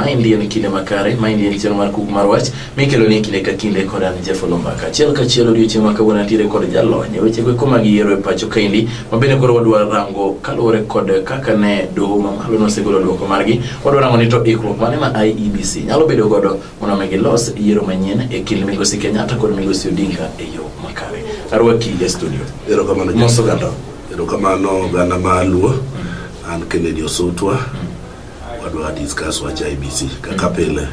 Maendi en kinde makare, maendi en chenro mar kuk mar wach mikelo ni kinde ka kinde kod an Jeff Olombaka. Achiel ka achiel odiochieng' ma kawuono antiere kod jalony e weche go eko mag yiero e pacho kaendi ma bende koro wadwa rango kaluwore kod kaka ne doho ma malo nosegolo dwoko margi. Wadwa rango ni to ikruok mane ma IEBC nyalo bedo godo mondo mi gilos yiero manyien e kind Migosi Kenyatta kod Migosi Odinga e yo makare. Arwaki e studio. Erokamano Jeff. Moso ganda. Erokamano oganda ma Luo. An Kennedy Osutwa. Wadwa discuss wach IBC kaka pile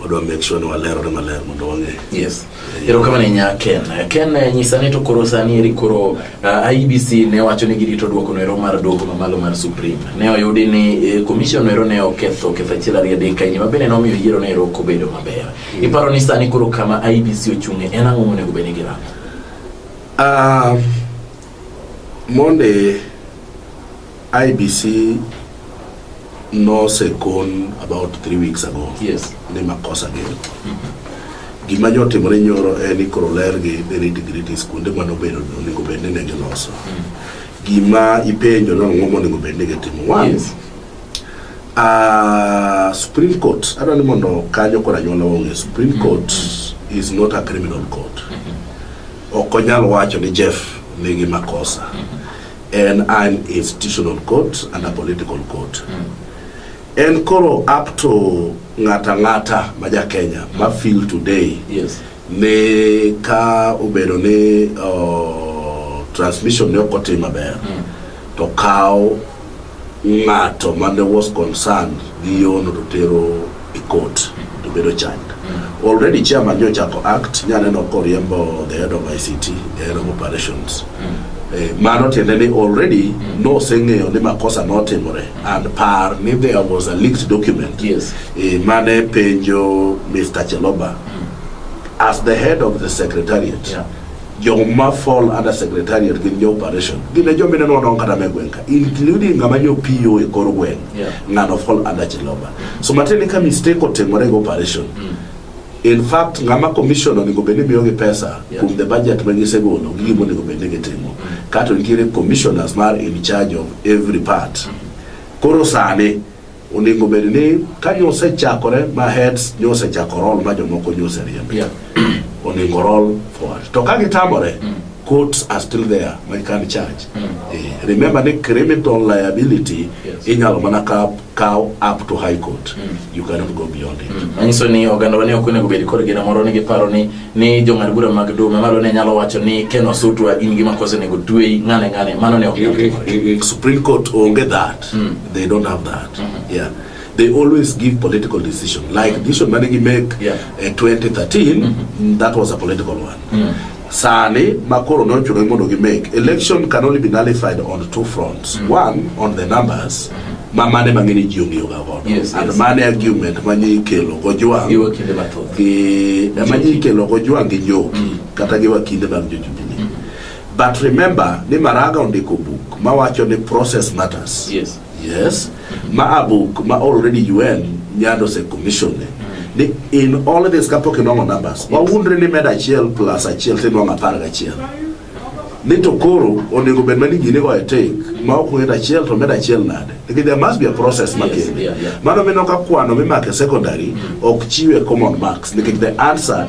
wadwa make sure ni walerore maler mondo wang'e. Yes. Erokamano ahinya Ken. Ken eh, nyisa ni to koro sani eri koro uh, eh, IBC ne wacho ni girito duoko noero mar duoko mamalo mar Supreme. Ne oyudi ni eh, commission noero ne oketho ketho achiel ariyo adek kaini mabende ne omiyo yiero noero ok obedo maber. Mm. Iparo ni sani koro kama IBC ochung'e en ang'o monego bed ni girango? Um, Monde IBC nosekon about three weeks ago Yes. ni makosa gin gima nyo otimore nyoro en ni koro lergi ni nitgritis kuonde ma nobedo ni onego bed ni ne giloso gima ipenjo ni ang'o monego bed ni gitimo one Yes. uh, supreme court adwa ni mondo kanyo kod anyuola ong'e supreme court is not a criminal court Ok onyal wacho ni Jeff nigi makosa. En an institutional court and a political court. En koro up to ng'ata ng'ata ma ja Kenya ma feel today Yes. ni ka obedo ni oh, transmission ne ok otim maber to kaw ng'ato mane was concerned gi yono to tero e court to bedo child already chairman nyo chako act nya neno koriembo the head of ICT the head of operations Eh, mano tiende ni already noseng'eyo ni makosa notimore and par ni there was a leaked document Yes. eh, mane penjo Mr. Cheloba as the head of the secretariat Yeah. Joma fall under secretariat gin jo operation. Gin e joma ineno wadong kata me gweng' ka. Including ng'ama nyo PO e kor gweng'. Yeah. Ng'ano fall under Chiloba. So matiende ka mistake otimore gi operation. In fact, ng'ama commission onego bed ni miyogi pesa Yeah. kuom the budget ma gisegolo gi gima onego bed ni gitimo. Kato nitiere commissioners mar in charge of every part. Koro sani Onego bed ni ka nyo osechakore ma heads nyo osechako roll ma jomoko nyo oseriembo. Yeah. Onego roll forward. To ka gitamore, courts are still there, ma can charge. Eh, Remember ni criminal liability Yes. inyalo mana ka- kaw up to high court. You cannot go beyond it. manyiso ni oganda wa ne ok onego bed kod geno moro ni giparo ni ni jong'ad bura mag dume malo ne nyalo wacho ni ken osutwa in gima kose nego tweyi ng'ane ng'ane mano ne ok nyal timore. Supreme Court onge that. Mm. They don't have that. Mm -hmm. Yeah. They always give political decision. Like decision managi make yeah. uh, 2013, mm -hmm. that was a political one. Mm. Sani makoro no chuno mondo gi make. Election can only be nullified on two fronts. Mm. One on the numbers. Mm -hmm ma mane mang'eny ji ong'iyo ga godo yes, and yes. mane argument ma nyi kelo go jwang gi ma nyi kelo go jwang gi njoki mm. kata gi wakinde mag jojubilee mm. But remember ni Maraga ondiko book ma wacho ni process matters. Yes. Yes. Ma a book ma already UN nyando se commission ni. Ni in all this kapok inong'o numbers. Wa wundre ni med achiel plus achiel to inong'o apar gachiel. Ni to koro onego bed mani gini go e take ma ok ng'e achiel to med achiel nade. Because there must be a process ma Yes, kende. yeah, yeah. Mano mino ka kwano mimake secondary ok chiwe common marks nikech the answer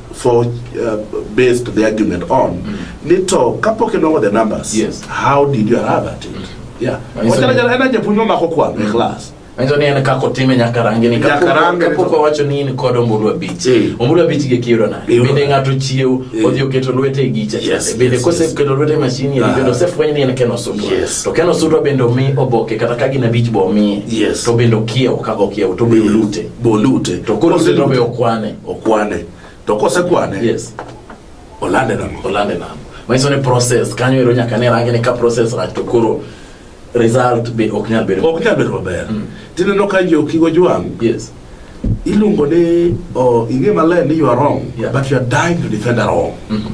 for uh, based the argument on mm. nito kapok inongo the numbers yes. how did you arrive at it mm. yeah wachana jana ena japuonjwa mako kwano mm. e class Anjo ni ene kako time nyakarange ni kako nyakarange kapo kwa wacho ni ni kodo mbulu wa bichi hey. Eh. mbulu wa bichi ge kiyo na hey. Eh, bende ngato chiyo hey. Eh. odhi oketo lwete gicha yes, bende yes, kose yes. keto lwete mashini ya ah. bende ose fwenye ni ene keno sudwa yes. to keno sudwa bende omi oboke kata kagi na bichi bo omi yes. to bende okia ukago kia utobe hey. ulute bo ulute to kuro se nobe okwane okwane to kosekwane yes olande nam olande nam manyiso ni process kanyo ero nyaka ne range ni ka process rach to koro result be ok nyal bedo ok nyal bedo maber mm. tineno ka jo kigo jwang yes iluongo ni oh, ing'e maler ni you are wrong yeah. but you are dying to defend a wrong mm -hmm.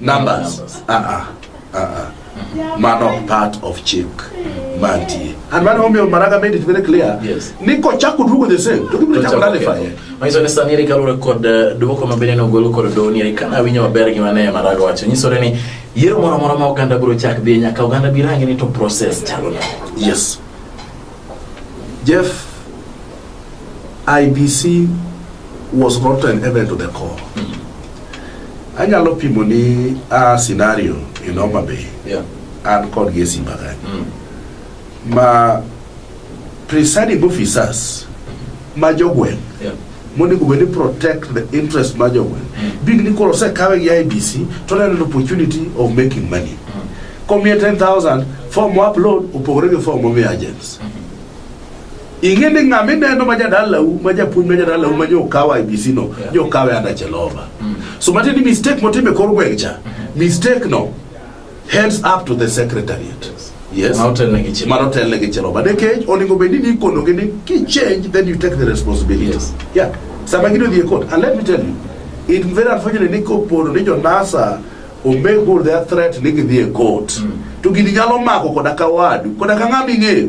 numbers ah ah ah ah mano ok part of chik mantie and mano omiyo maraga made it very clear Yes. ni kochako duogo the same to gibiro chako nalifanye Manyiso ni sani eri kaluwore kod eh, dwoko ma bende nogol kod doni eri kana winyo maber gima ne Maraga wacho nyisore ni yiero moro amora ma oganda biro chak dhi nyaka oganda bi rangi ni to process chalo nade. yes Jeff, IBC was not an event to the core. Anyalo pimo ni a scenario in Homa Bay Yeah. and kod gi e Simba kanyo. Mm. Ma presiding officers ma jogweng' Yeah. monego bed ni protect the interest mar jogweng big ni koro osekawe gi IBC to oneno an opportunity of making money komiye 10000 form mo upload opogore gi form momiyo agents ing'e ni ng'ama ineno ma jadalau ma japuonj ma jadalau ma nyokawa IBC no Yeah. nyokawe anda chelova so matiende ni mistake motime kor gweng' cha mistake no Hands up to the secretariat. Yes. Yes. Mano telne gi chelo. Mano telne gi chelo. Bade kech onego bed ni ikono gi ni ki change then you take the responsibility. Yes. Yeah. Sama gido dhie court and let me tell you it very unfortunate ni kopono ni jonasa ombe go their threat ni gidhie court. Mm. To gini nyalo mako koda ka wadu koda ka ng'ama ing'eyo.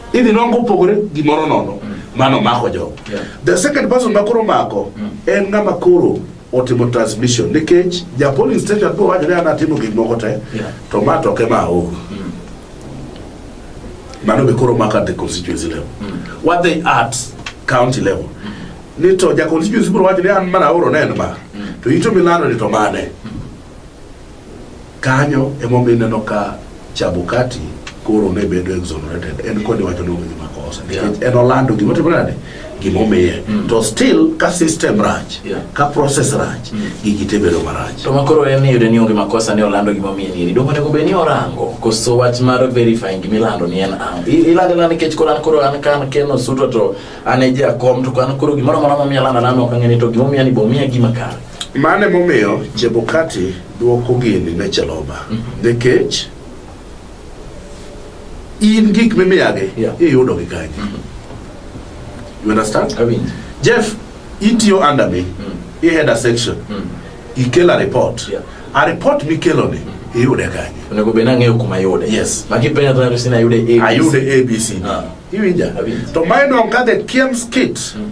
Idhi nwango opogore gimoro nono mano omako jogo. Yeah. The second person ma koro omako en ng'ama koro otimo transmission nikech ja polling station biro wacho ni an atimo gik moko te Yeah. to ma to ok ema aoro. Mano be koro omako at the constituency level. What they at county level. Ni to ja constituency biro wacho ni an mana aoro ne en ma. To ito milando ni to mane. Kanyo emomiyo ineno ka Chabukati koro ne bedo exonerated en kod wacho ni onge gi makosa nikech en olando gima otimore nade gima omiye mm. to still ka system rach ka process rach mm. gigi te bedo marach to makoro en iyude ni onge makosa ni olando gima omiye ni dong onego bed ni orango koso wach mar verifying gima ilando ni en ang ilando na nikech koro an koro an kan keno suto to an e jakom to an koro gimoro amora momiya lando lando ok ang'e ni to gima omiya ni bo miya gima kare Mano emomiyo Chebukati dwoko gini ne Cheloba mm-hmm. nikech in gik mimiyagi iyudo gi kanye. Mm-hmm. You understand? Jeff, itiyo under me, mm. i head a section, mm. ikela report. Yeah. A report mikeloni mm. iyude kanye onego bed nang'eyo kuma yude yes makipenja to sina ayude abc ayude abc ah. iwinja to mine on ka the kiem's kit mm.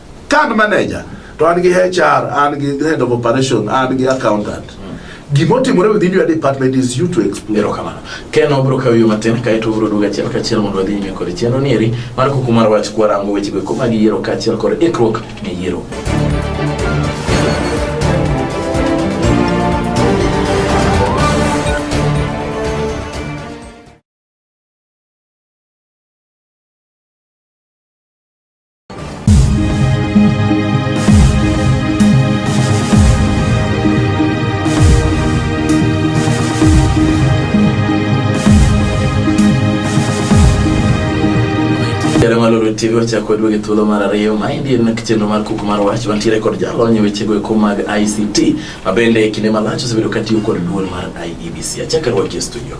Card manager to an gi HR, an gi head of operation, an gi accountant. Gima otimore within your department is you to explain. Erokamano. Ken obro kawo yo matin kaeto obro duogo achiel kachiel mondo wadhi nyime kod chenro ni eri mar kuku mar wach kwarango wechego eko mag yiero kaachiel kod ikruok ne yiero. Jalong'ololo TV ochako kod wege thuolo mar ariyo ma endi en chenro mar kuku mar wach wantiere kod jalony e wechego eko mag ICT ma bende e kinde malach osebedo katiyo kod duol mar IEBC. Achako rwaki e studio.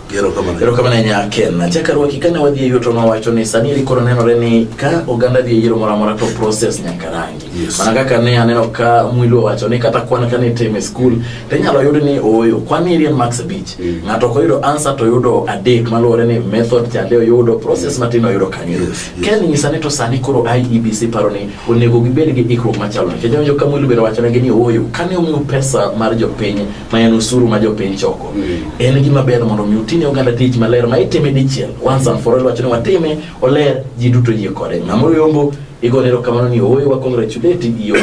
erokamano nya ken achaka rwaki kane wadhi e yuto nowacho ni sani eri koro nenore ni ka oganda dhi e yiero moro amora to process nyaka rangi yes. mana kaka ne aneno ka mwilu owacho ni kata kwan kane itime skul to inyalo yud ni ooyo kwan eri en max beach mm. ng'ato ok oyudo answer to oyudo adek maluwore ni method chande oyudo process matin oyudo kanyo yes. yes. ken nyisa ni to sani koro iebc paro ni onego gibed gi ikruok machalo nikech onjo ka mwilu bende owachonegi ni ooyo kane omiu pesa mar jopiny ma en osuru ma jopiny choko mm. en gima ber mondo mi utine oganda tich maler ma itime dichiel once and for all wacho ni watime oler ji duto yie kode ng'ama oyombo igone erokamano ni ooyo wa congratulate iyo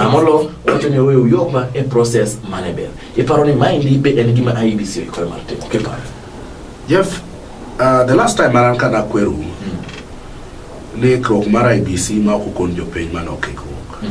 amolo wacho ni ooyo uyopa e process mane ber iparo ni maendi be en gima IEBC oikore mar timo kiparo Jeff uh, the last time aran ka nakweru mm. ni ikruok mar IBC e ma ok okon jopiny mane ok ikruok mm.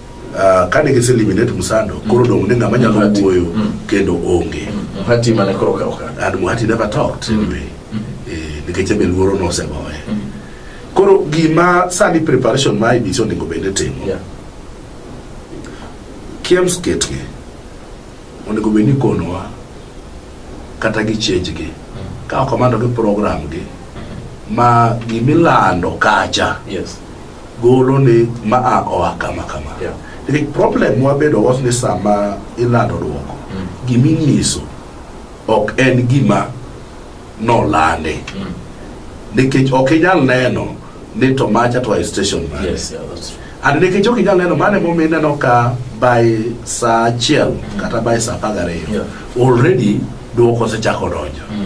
Uh, kane gise eliminate Msando mm. koro dong' ni ng'ama nyalo wuoyo mm. kendo onge mm. Muhati mane koro ka oka and Muhati never talked mm. anyway mm. eh, nikech ebe luoro nosegoye mm. koro gima sani preparation ma IBC onego bed ni timo yeah. KIEMS ketgi onego bed ni konowa kata gi change gi mm. ka okamano gi program gi mm. ma gimilando kacha yes. golo ni ma a oa kama kama yeah. the problem wabedo was ni sama ilando dwoko mm. gima inyiso ok en gima nolandi mm. nikech ok inyal neno ni to macha to station man yes, yeah, that's true. and nikech ok inyal neno mane momi ineno ka by saa achiel mm. kata by saa apar gariyo yeah. already dwoko osechako donjo mm.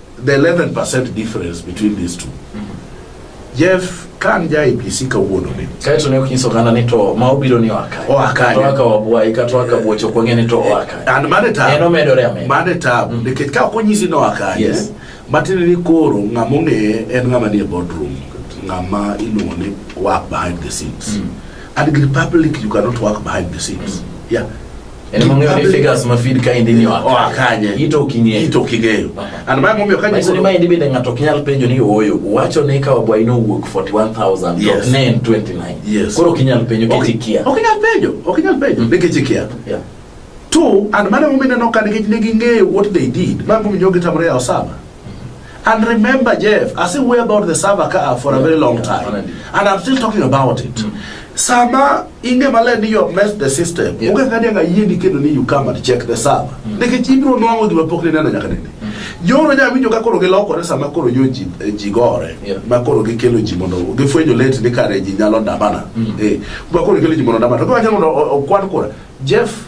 The 11% difference between these two. Jeff kan ja IPC kawuono ni. Kae to ne ok nyiso oganda ni to ma obiro ni oa kae. Oa kae. To aka wabwayi kata oa kabuocho ok wang'e ni to oa kae. And mane tabu. En omedore amedore. Mane tabu. Mm. Nikech ka ok onyisi ni oa kae. Yes. Matiende ni koro ng'ama ong'eye en ng'ama nie boardroom. Ng'ama iluongo ni work behind the scenes. Mm. And in public you cannot work behind the scenes. Mm. Yeah. Ene mang'e ni figures ma feed ka indi ni oa oa kanye Ito ok ing'eyo. ito ok ing'eyo and mae momiyo ka Manyiso ni ma indi bende ng'ato ok nyal penjo ni ooyo uwacho ni ka wabwayi ni owuok 41000 to Yes. ne en 29 Yes. koro ok inyal penjo kech ikia ok inyal penjo ok inyal penjo nikech ikia Yeah. two and mano momiyo ineno ka nikech ne ging'eyo what they did ma momiyo gitamore yawo saba And remember, Jeff, I still worry about the Sava car for a very long time. And I'm still talking about it. Mm. Sama inge male ni yo mess the system. Yes. Uge kadi nga yindi kendo ni you come and check the Sava. Mm. Nike chibiro nwango diwa pokli nana nyaka nene. Mm. Yoro nya winjo ka koro giloko re sama koro yo ji, eh, ji gore. Yeah. Ma koro gikelo ji mondo. Gifwenyo late ni kare ji nyalo damana. Mm. Eh. Kwa koro gikelo ji mondo damana. Kwa koro gikelo ji mondo damana. Jeff,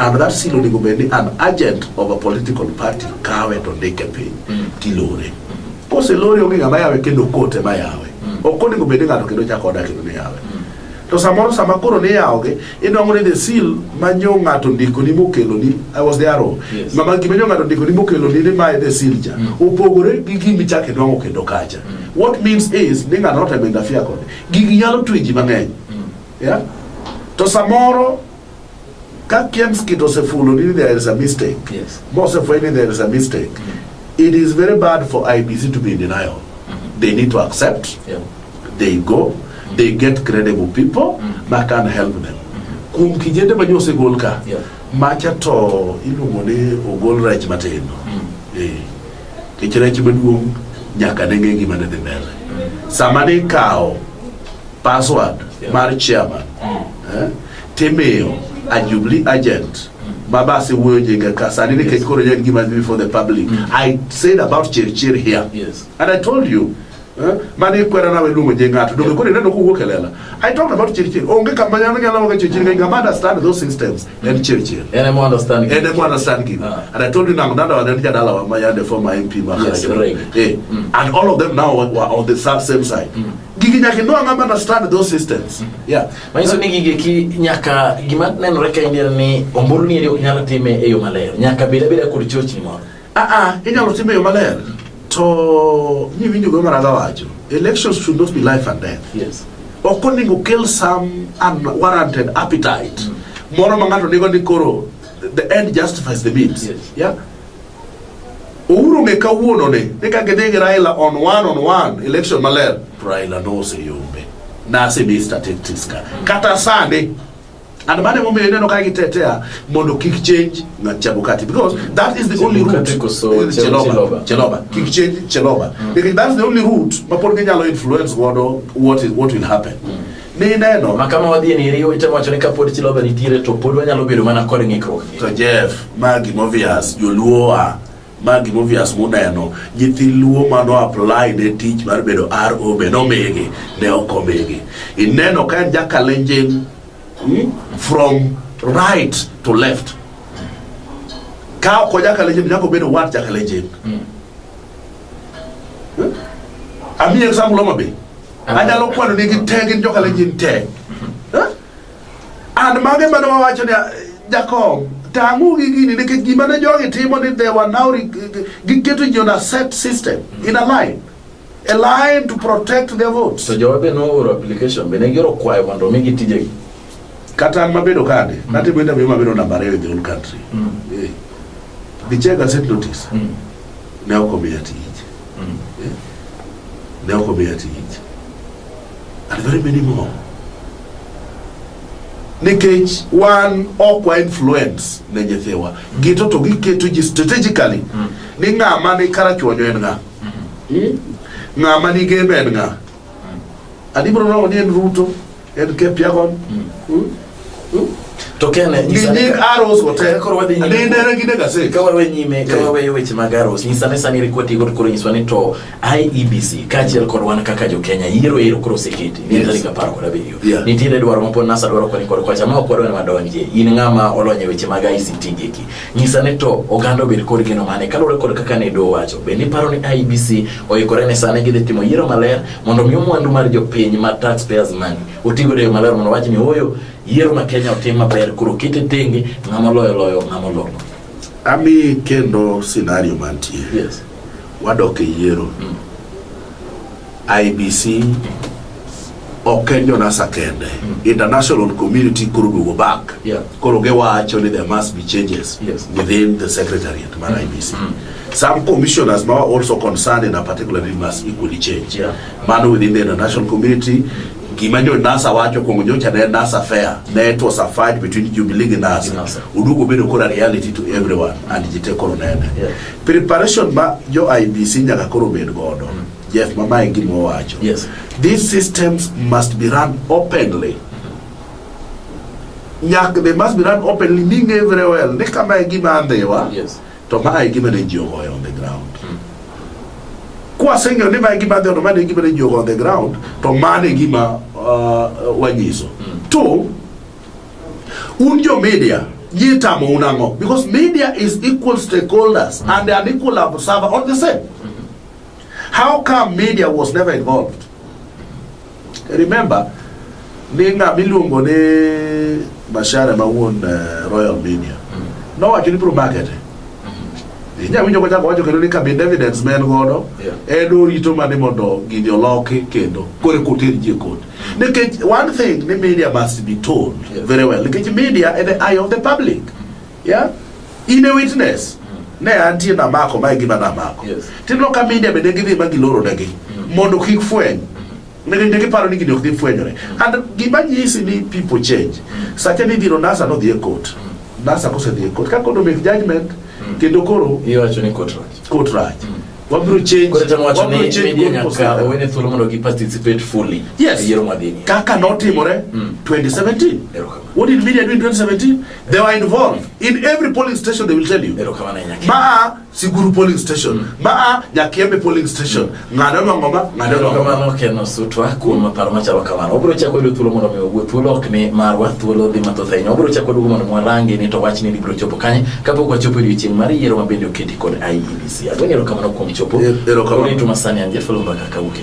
And that seal onego bed ni an agent of a political party kawe to ndike piny mm. tilore. Mm. Kose lori onge ng'ama yawe kendo kote ma yawe. Mm. Ok onego bed ni ng'ato kendo chako oda kendo ni yawe. Mm. To samoro sama koro ni yawogi inwang'o ni the seal ma nyo ng'ato ndiko ni mokelo ni I was there all. Yes. Mama gima nyo ng'ato ndiko ni mokelo ni ni mae the seal ja. Mm. Opogore gi gimi chak inwang'o kendo kacha. Mm. What means is ni ng'ato not a menda fia kode. Gigi nyalo twi ji mang'eny. Mm. Yeah? To samoro Ka Kemskit osefulo ni there is a mistake, yes. mosefweny ni there is a mistake, mm -hmm. it is very bad for IBC to be in denial. Mm -hmm. They need to accept, yeah. they go, mm -hmm. they get credible people mm -hmm. that can help them. Mm-hmm. Kuom kijende ma josegol ka, yeah. macha to iluongo ni ogol rech matindo. Mm -hmm. Eh. Kech rech maduong' nyaka ne ng'e gima ne dhi mbele. Mm -hmm. Sama ni kawo password yeah. mar chairman mm -hmm. eh? Timiyo a Jubilee agent baba asewuoyo nyinga ka sani nikech koro en gima dhi before the public mm. I said about Chirchir here yes. and I told you eh, mane ikwera nawe luongo nying ng'ato donge koro ineno kowuok e lela I talked about Chirchir onge kama nyalo nyalo wacho Chirchir ng'eny ngama understand those systems mm. en Chirchir en emo understand en emo understand gini ah. and I told you nang nada wane jadala wa mayande former MP ma yes, eh mm. and all of them now were on the same side mm. gigi nyaka inua ng'ama understand those systems yeah manyiso ni gigi ki nyaka gima nenore ka india ni ombulu ni eri ok nyal time e yo maler nyaka bed abeda kod chochni moro aa inyalo time yo maler to niwinjo go maraga wacho elections should not be life and death yes ok onego kill some unwarranted appetite moro ma ng'ato nigo ni koro the end justifies the means Yes. yeah Uhuru ng'e kawuono ni ni ka gidhi gi Raila on one on one election maler Raila noseyombe nasemi statistics ka kata sani and mane momiyo ineno ka gitetea mondo kik change na Chebukati because that is the only route Chebukati koso Eh, Che- Cheloba Cheloba. Cheloba kik change Cheloba because that's the only route mapod ginyalo influence godo what is what will happen Nineno. Ma kama wadhi ni riwo itemo wacho ni kapod Chiloba nitiere to pod wanyalo bedo mana kod ng'ikruok. To Jeff, ma gima obvious, joluo wa, ma gima obvious muneno, nyithi luo ma no apply ne tich mar bedo RO be nomigi, ne ok omigi. Ineno ka en jakalenjin hmm, from right to left. Ka ok jakalenjin, nyako bedo wat jakalenjin. Hmm. Hmm? Ami example Homa Bay. anyalo kwano nigi te gin joka lejin te Eh? and mage mane wawacho ni jakob tang'u gi gini nikech gima ne jogi timo ni they were now re- giketo ji on a set system in a line a line to protect their votes So jowa be nooro application be ne gioro kwayo mondo omigi tijegi. kata an mabedo kande natimo interview mabedo namba ariyo in the whole country Eh. gichega set notice ne ok omiya tich Eh? Ne ok omiya tich. And very many more. Nikech wan ok wa influence ne nyithiwa. Gito to giketo ji strategically mm. ni ng'ama ni karachuonyo en ng'a. Mm-hmm. Hmm? Ng'ama ni gembe en ng'a. Mm. Adi bro ni en Ruto. en ke piagon to kene nyisa ni nying arrows wote Koro wadhi nyime. ni nere gi nega se ka wawe nyime ka Eh. waweyo weche mag aros nyisa ni sani rikwati kod koro nyiswa ni to iebc kaachiel kod wan kaka jokenya yiero ero koro oseketi ni Yes. tarik apar kod abiriyo Yeah. nitiere dwaro ma pod nasa dwaro kwani kod kwacha ma ok wadwa ni wadonjie in ng'ama olony e weche mag ict geki nyisa ni to oganda obed kod geno mane kaluwore kod kaka ne do wacho bende iparo ni iebc oikore ne sani gidhi timo yiero maler mondo mi mwandu mar jopiny ma taxpayers money otigo e yo maler mondo wach ni oyo yiero ma Kenya otim maber koro kete tenge ng'ama loyo loyo ng'ama loyo ami kendo scenario mantie yes wadok e yiero mm. IBC ok en jonasa kende mm. international community koro duogo back yeah. Koro giwacho ni there must be changes yes. within the secretariat mar IBC. Mm -hmm. Some commissioners ma also concerned in a particular way must equally change. Yeah. Mano within the international community gima jo NASA wacho kuongo nyocha ne NASA fair ne it was a fight between Jubilee gi NASA. NASA. Udugu bedo kora reality to everyone and jite koro nene. Yeah. Preparation ma jo IBC nyaka koro bed godo. Mm -hmm. Jeff mama e gima wacho. Yes. These systems must be run openly. Nyak, they must be run openly, being very well. Ni kama e gima andhiwa, Yes. to ma e gima ne ji ogoyo on the ground. Kwaseng'eyo ni ma e gima andhiwa, to ma e gima ne ji ogoyo on the ground, to mano e gima uh, wanyiso. Two, un jo media yie tamo un ang'o because media is equal stakeholders and an equal observer on the same how come media was never involved Remember, ninga miluongo ni Mashare ma wuon uh, Royal Media. Mm. Nowacho ni bro market. Mm-hmm. Inya winjo kochako wacho kendo ni kabin evidence men godo en orito mane mondo gini oloki kendo kore koter ji e koti. Mm. Nikech one thing ni media must be told yeah. very well. Nikech media is the eye of the public. Mm. Yeah? In a witness. Mm. Ne antie namako mae gima namako. Yes. Tineno ka media bende gidhi ma giloro negi mm. mondo kik fweny. Mm. Ne ne giparo ni gini ok dhi fwenyore. Mm. And gima nyisi ni people change. Mm. Sacha ni biro nasa no dhi e court. Mm. Nasa kose dhi e court. Ka kodo make judgment mm. kendo koro iwacho ni court rach. Court rach. Mm. wabiro change wabiro change thuolo mondo gi participate fully yes e yiero madhi kaka notimore mm. 2017 what did media do in 2017 They were involved in every polling station they will tell you. Ba Siguru polling station, mm. ba Nyakembe polling station. Mm. Ngado no ngoma, ngado no ngoma. Kamano keno sutwa kuom paro ma chalo kamano. Obro chako yudo thuolo mondo mi ogwe thuolo ok ni marwa thuolo dhi mathoth ahinya. Obro chako duogo mondo mwarangi ni to wachni ni bro chopo kanye kapok wachopo odiochieng' mar yiero ma bende oketi kod IEBC. Agwenyo erokamano kuom chopo. Erokamano. Ore to masani anje fulu mbaka kawuok e